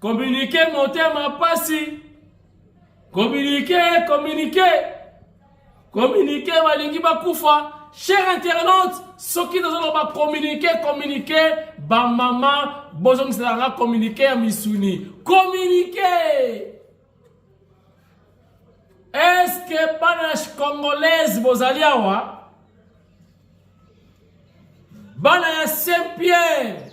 Communiquer motema pasi. Communiquer, communiquer. Communiquer balingi bakufa. Cher internaute, soki nazoloba communiquer, communiquer, ba mama bozongisela nga communiquer ya misuni. Communiquer. Est-ce que bana congolaise bozali awa? bana ya saint pierre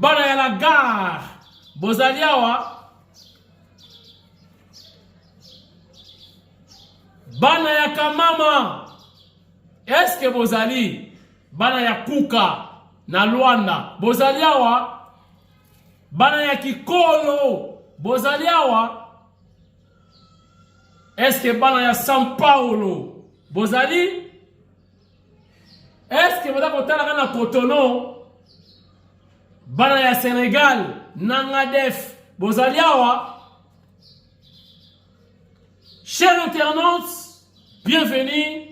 Bana ya la gare bozali awa bana ya kamama eske bozali bana ya kuka na Luanda bozali awa bana ya kikolo bozali awa eske bana ya São Paulo bozali Est-ce que boza kotalaka na Cotonou bana ya Senegal nanga def bozali awa Chers internautes, bienvenue.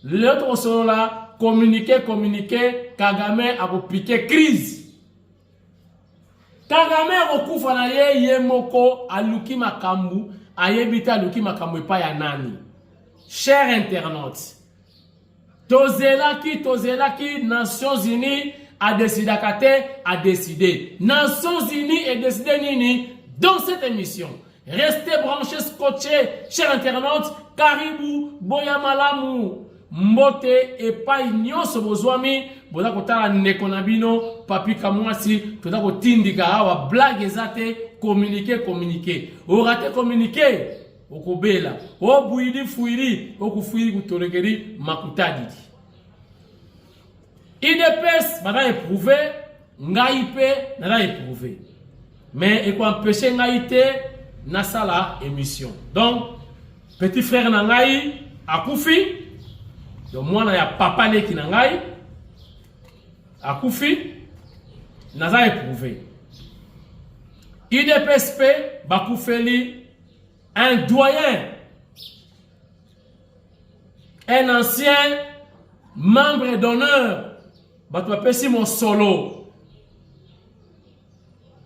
L'autre solo là, communiquer, communiquer, Kagame a piqué crise. Kagame akokufa na ye ye moko aluki makambu ayebi te aluki makambu epai ya nani cher internaute tozelaki tozelaki nations unies adesidaka te adeside nations unies edeside nini dans cette émission restez branchés scotchés cher internaute karibu boya malamu Mbote epai nyonso bozwami boza kotala ndeko na bino papi kamwasi toza kotindika awa blague eza te communique communique orate communique okobela obuili fuili okufuili kutolekeli makutadidi idps baza eprouve ngai mpe naza eprouve mais ekoempeshe ngai te nasala émission donc petit frère na ngai akufi donc mwana ya papa leki na ngai akufi naza eprouve idps mpe bakufeli un doyen un ancien membre d'honneur bato bapesi mosolo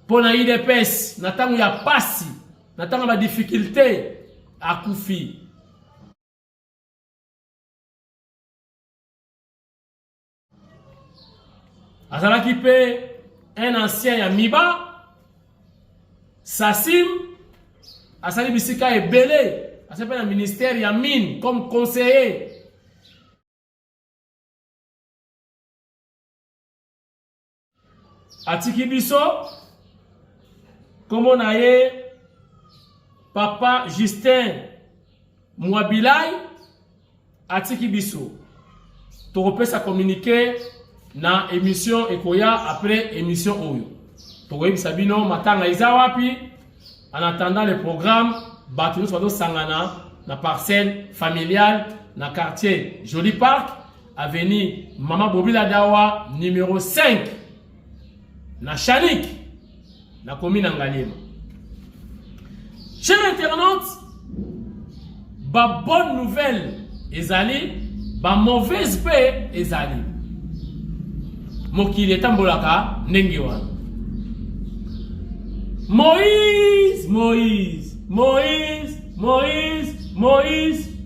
mpo na udps na ntango ya pasi na ntango ya badifficulte akufi azalaki mpe un ancien ya miba sasim asali bisika ebele asali mpe na ministère ya mine comme conseiller atiki biso nkombo na ye papa justin mwabilai atiki biso tokopesa communiqué na émission ekoya après émission oyo tokoyebisa bino matanga eza wapi en attendant le programme bato nyonso bazosangana na parcelle familiale na quartier joli park avenue Mama Bobila Dawa numéro 5 na Chanik na commune ya Ngaliema. Cher internaute, ba bonne nouvelle ezali, ba mauvaise pe ezali. Mokili etambolaka ndenge wana. Moïse, Moïse, Moïse, Moïse, Moïse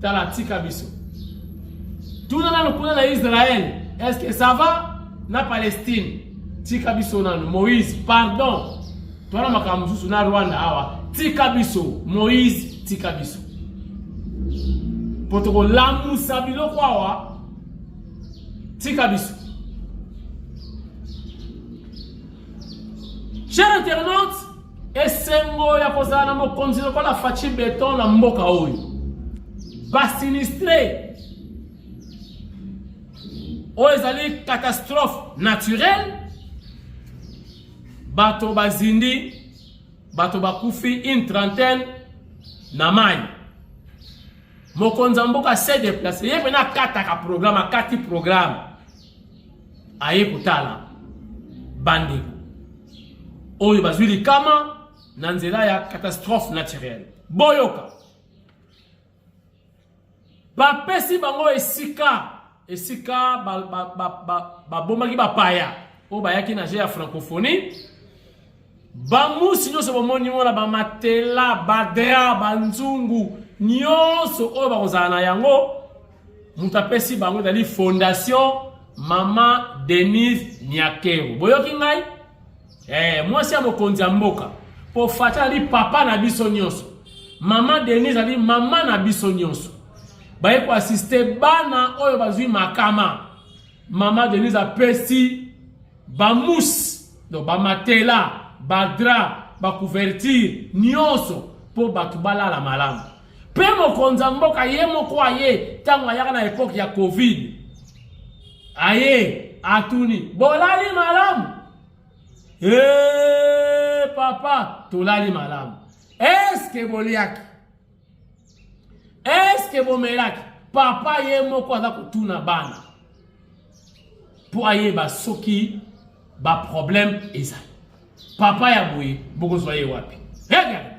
Tala tika biso. Tuna nanu kuna na Israël, est-ce que ça va na Palestine? Tika biso nanu Moïse, pardon. Twana makambo mosusu na Rwanda awa. Tika biso Moïse, tika biso. Potoko lamusa biloko awa. Tika biso. Chers internautes, Esengo ya kozala na mokonzi lokola Fatshi Beton na mboka oyo. Ba sinistre oyo ezali catastrophe naturelle, bato bazindi, bato bakufi une trentaine na mai. Mokonzi ya mboka se deplace ye mpena akataka programme, akati programme aye kotala bandeko oyo bazwi likama na nzela ya catastrophe naturelle boyoka bapesi bango esika esika babomaki ba, ba, ba, bapaya oyo bayaki na je ya francophonie bamusi nyonso bomoni wana bamatela badra banzungu nyonso oyo bakozala na yango moto apesi bango ezali fondation mama denise niakero boyoki ngai eh, mwasi ya mokonzi ya mboka mpo fata ali papa na biso nyonso mama denise ali mama na biso nyonso baye koasiste bana oyo bazwi makama Mama Denise apesi ba mousse donc ba matela, ba drap, ba couverture nyonso mpo bato balala malamu. Mpe mokonzi ya mboka ye moko aye ntango ayaka na epoke ya Covid aye atuni bolali malamu? Eee papa tolali malamu. Eske boliaki? eske bomelaki papa ye moko aza kotuna bana mpo ayeba soki baproblème ezali papa ya boye bokozwa ye wapi hey,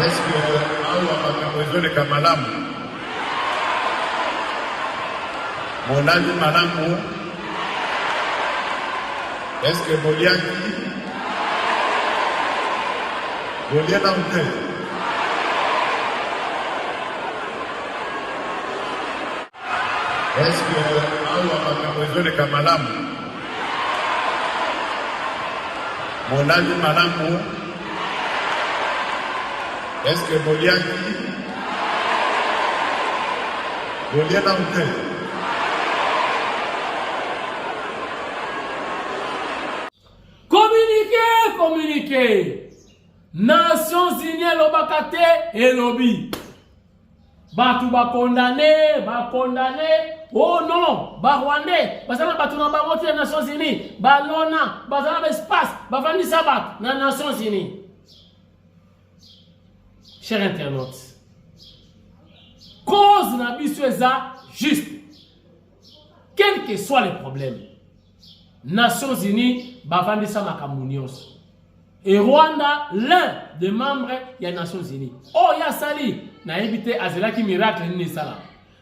eske awa makambo ezoleka malamu molali malamu eske boliaki bolie nanu te Est-ce que awa makambo ezoleka malamu? Molali malamu? Est-ce que boliaki? Bolie nanu te? Communiquer, communiquer. Nations Unies elobaka te elobi. bato bakondane bakondane o oh non barwandais baza na bato na bango te na nations unis balona baza na baespace bafandisa bato na nations unis cher internaute cause na biso eza juste quel que soit le problème Nations Unies bavandisa makambo nyonso e Rwanda l'un des membres ya Nations Unies oyo oh, asali nayebi te azelaki miracle nini esala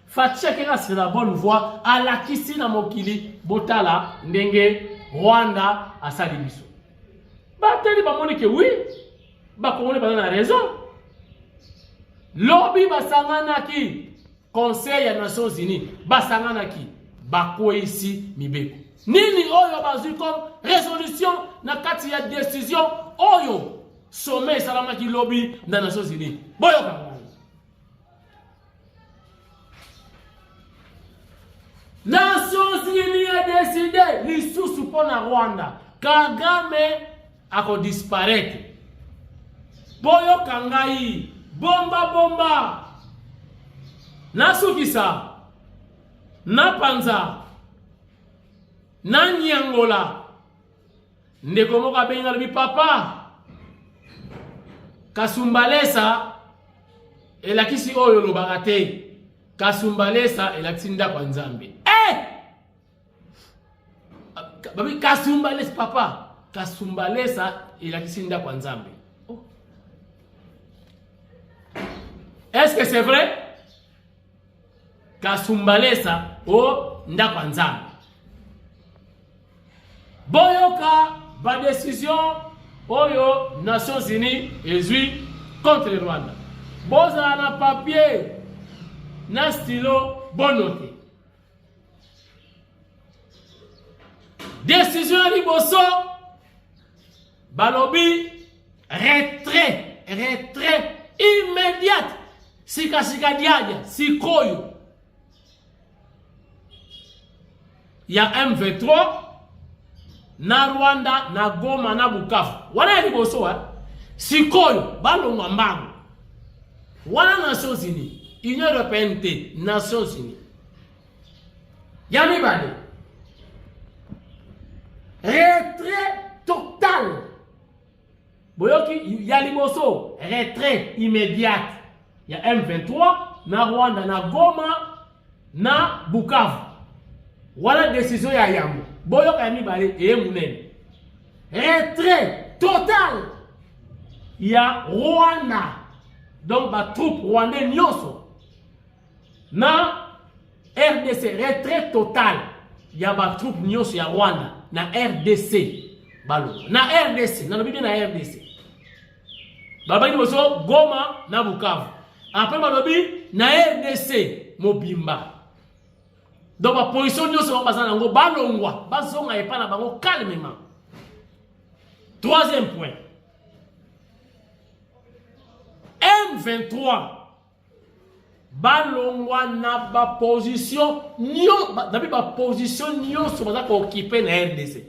Fatshi akenda sur la bonne voie alakisi na mokili botala ndenge Rwanda asali biso batali bamoni ke oui bakongoli baza na raison lobi basanganaki conseil ya nations unis basanganaki bakweisi mibeko nini oyo bazwi comme résolution na kati ya décision oyo sommet esalamaki lobi na nations unis boyoka nations unis edeside lisusu mpo na rwanda kagame ako disparaitre boyoka ngai bomba bomba nasukisa napanza nanyangola ndeko moko abengi alobi papa kasumbalesa elakisi oyo olobaka te kasumbalesa elakisi ndako ya nzambe e eh! babi kasumbalesa papa kasumbalesa elakisi ndako ya nzambe oh. est ce que c'est vrai kasumbalesa o oh, ndako ya nzambe boyoka badesizio oyo nations unies ezwi contre rwanda bozala na papier na stilo bonote Decision ya liboso balobi retrait, retrait immédiate sika sika diadia sikoyo ya M23 na Rwanda na Goma na Bukavu wana ya liboso wa eh? sikoyo balongwa mbango wana Nations Unies Union Européenne te Nations Unies ya mibale retrait total boyoki ya liboso retrait immédiate ya m23 na rwanda na goma na bukavu wana desizio ya yambo boyoka ya mibale eye monene retrait total ya rwanda donc batroupe rwandais nyonso na rdc retrait total ya batroupe nyonso ya rwanda na rdc baloba na rdc nalobi nde na rdc balobaki liboso goma na bukavu apres balobi na rdc mobimba donc baposition nyonso bango baza na yango balongwa bazonga epai na bango calmement troisième point m23 balongwa na baposition nabi baposition nyonso baza kookipe na rdc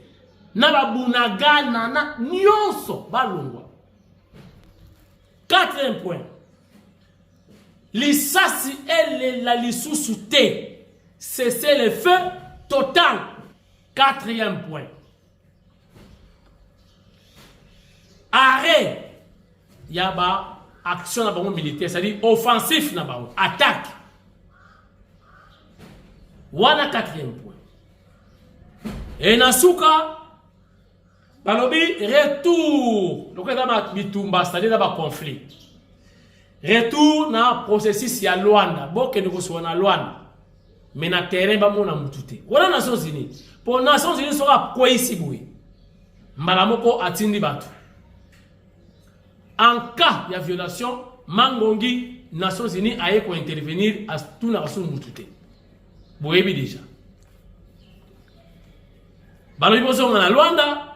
na babunagana na nyonso balongwa quatrième point lisasi elela lisusu te cessez le feu total quatrième point arrêt ya ba action na bango militaire c'est-à-dire offensif na bango attaque wana quatrième point e na suka balobi retour lokola eza na bitumba c'est-à-dire na baconflit retour na processus ya lwanda bokende kosuka na lwanda mais na terrain bamona mutu te wana nations unis mpo nations unis soki akweisi boye mbala moko atindi bato en cas ya violation mangongi nations unis aye kointervenir atunaka so mutu te boyebi deja balobi bozonga na lwanda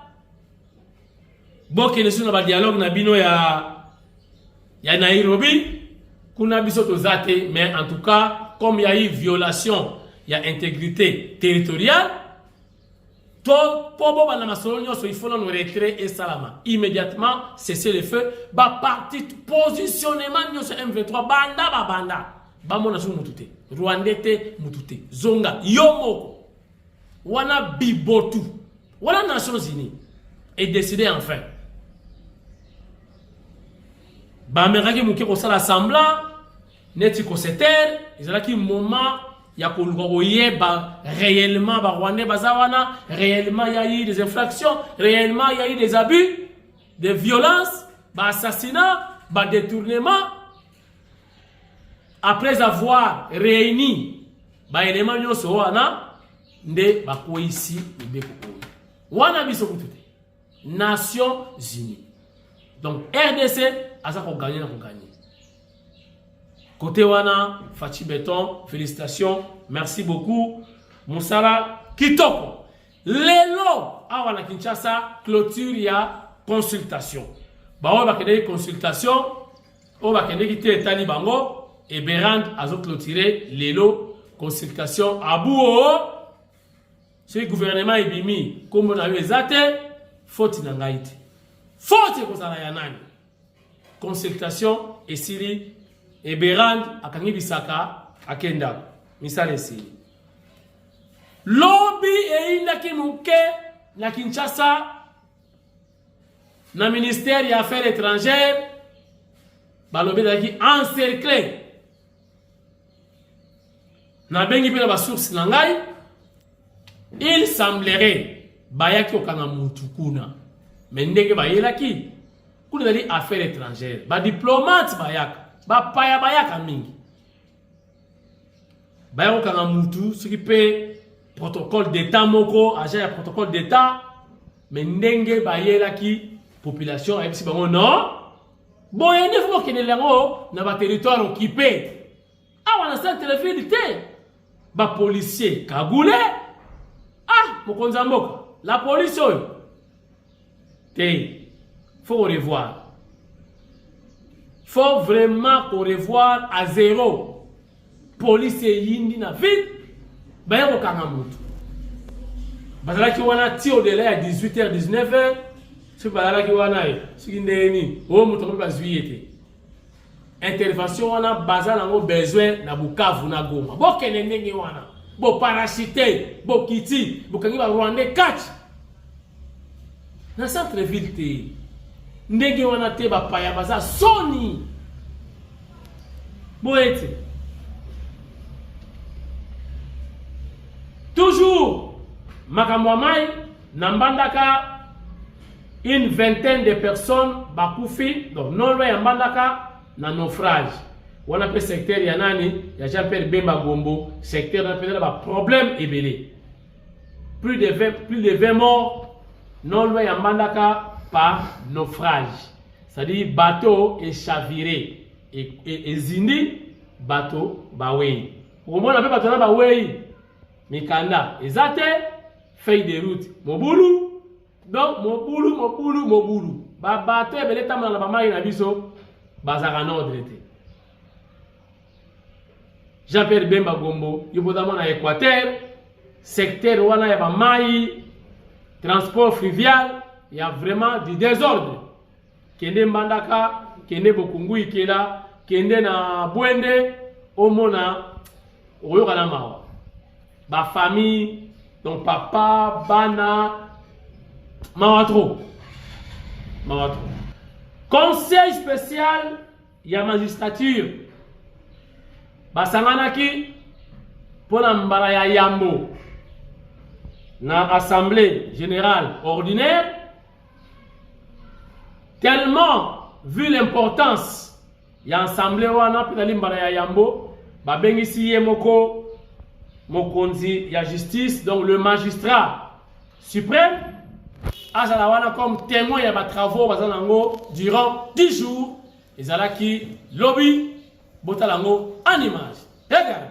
Bokende suna ba dialogue na bino ya ya Nairobi kuna biso toza te mais en tout cas comme ya eu violation ya intégrité territoriale to mpo bobanda masolo nyonso il faut nano retrait esalama immédiatement cesser le feu baparti positionnement nyonso m23 banda babanda bamona soki motu te rwandais te motu te zonga yo moko wana bibotu wana nations unis edeside enfin bamekaki moke kosala semblant neti kosetere ezalaki moment ya koluka koyeba réellement barwandais baza wana réellement ya eu des infractions réellement ya eu des abus des violences baassassinat badetournement Après avoir réuni ba éléments nyonso wana nde bakweyisi mibeko oyo wana biso kutu te nations unies donc rdc aza koganye na koganye kote wana faci beton félicitation merci beaucoup mosala kitoko lelo awa na kinshasa clôture ya consultation baoyo bakendeki consultation oyo bakendeki te etali bango eberand azoclotire lelo consultation abuo soki gouvernement ebimi nkombo na yo eza te foti na ngai te foti ekozala ya nani consultation esili eberand akangi bisaka akenda misala esili lobi eyindaki moke na kinshasa na ministère ya affaires étrangères balobi ezalaki encercle nabengi mpe na basource na ngai il semblerait bayaki kokanga mutu kuna me ndenge bayelaki kuna ezali affaire étrangère badiplomate bayaka bapaya bayaka mingi baya kokanga mutu soki mpe protocole d'état moko agent ya protocole d'état me ndenge bayelaki population ayebisi bango non boye nde fo bokendele yango na baterritoire okipe awa na centre de ville te bapolicier kagule ah mokonzi ya mboka la polise oyo te faut ko revoir faut vraiment ko revoir à zero police eyindi na ville baye kokanga motu bazalaki wana ti odela ya 18 heure 19 heure soki bazalaki wana ye soki ndenge nini oyo moto akomi bazwi ye te intervention wana baza nango besoin na bukavu na goma bokende ndenge wana boparasite bokiti bokangi barwandais kati na centre ville te ndenge wana te bapaya baza soni boye te toujours makambo ya mai na mbandaka Une vingtaine de personnes bakufi donc non loin ya Mbandaka na naufrage wana mpe secteur ya nani ya Jean Pierre Bemba Gombo secteur na mpenza na ba problème ebele plus de 20 plus de 20 morts non loin ya Mbandaka par naufrage c'est-à-dire bateau est chaviré et, et, et zindi bateau bawei okomona mpe bato na bawei mikanda eza te feuille de route mobulu donc mobulu mobulu mobulu babato ebele etambola na bamai na biso bazalaka nordre te jean pierre bemba gombo yo boza mwana ya équateur secteur wana ya bamai transport fluvial ya vraiment du désordre kende mbandaka kende bokungu ikela kende na bwende omona okoyoka na mawa bafamille donc papa bana mawa trop mawa trop conseil spécial ya magistrature basanganaki mpo na mbala ya yambo na assemblée générale ordinaire tellement vu l'importance ya ensemble wana mpe nali mbala ya yambo babengisi ye moko mokonzi ya justice donc le magistrat suprême azala wana comme témoin ya batravaux baza na yango durant 10 jours ezalaki lobi botala yango en image regarde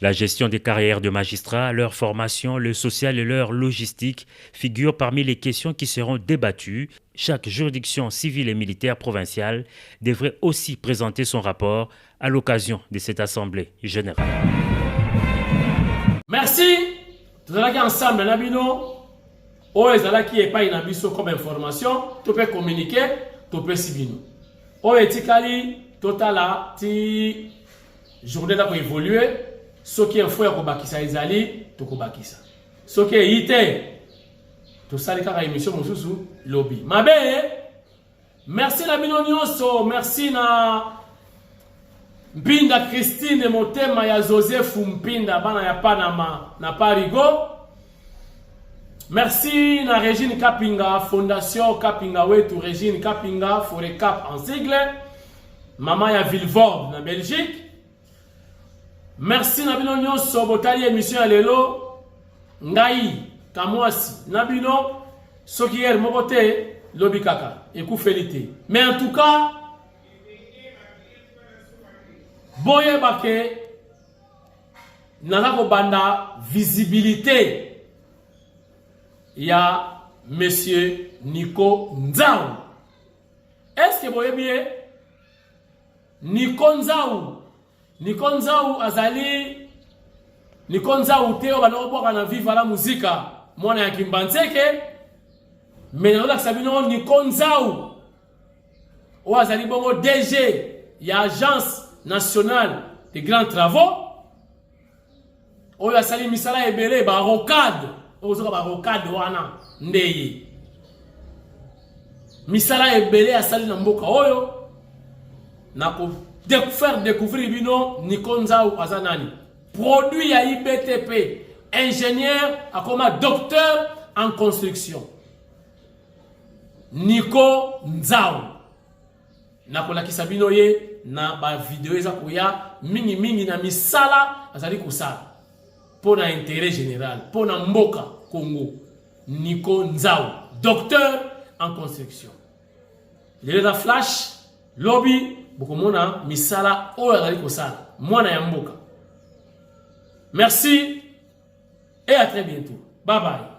La gestion des carrières de magistrats, leur formation, le social et leur logistique figurent parmi les questions qui seront débattues. Chaque juridiction civile et militaire provinciale devrait aussi présenter son rapport à l'occasion de cette assemblée générale. Merci. Nous allons ensemble na bino oyo ezalaki epai na biso comme information to pe communiquer to pesi bino oyo etikali totala ti journée eza koevolue soki info ya kobakisa ezali tokobakisa soki eyi te tosali kaka émission mosusu lobi mabe merci na bino nyonso merci na mpinda christine motema ya joseph mpinda bana ya panama na parigo Merci na Regine Kapinga, Fondation Kapinga Wetu, Regine Kapinga, Forecap en sigle, maman ya Vilvoorde na Belgique. Merci na bino nyonso botali émission ya lelo. Ngai kamwasi na bino soki yere moko te lobi kaka ekufeli te. Mais en tout cas boyeba ke naza kobanda visibilité ya monsieur Nico Nzau. Est-ce que boyebi ye? Nico Nzau. Nico Nzau azali Nico Nzau te oyo banakobwaka na Viva la Musica, mwana ya Kimbanseke. Mais nazolakisa bino Nico Nzau. oyo azali bongo DG ya agence nationale des grands travaux oyo asali misala ebele barocade oyo ozoka barocade wana nde ye misala ebele asali na mboka oyo na ko faire découvrir bino Nico Nzau aza nani produit ya IBTP ingénieur akoma docteur en construction Nico Nzau nakolakisa bino ye na bavideo eza koya mingimingi na misala azali kosala mpo na intérêt général mpo na mboka Congo Nico Nzau docteur en construction lelo na flash lobi bokomona misala oyo azali kosala mwana ya mboka merci et à très bientôt bye bye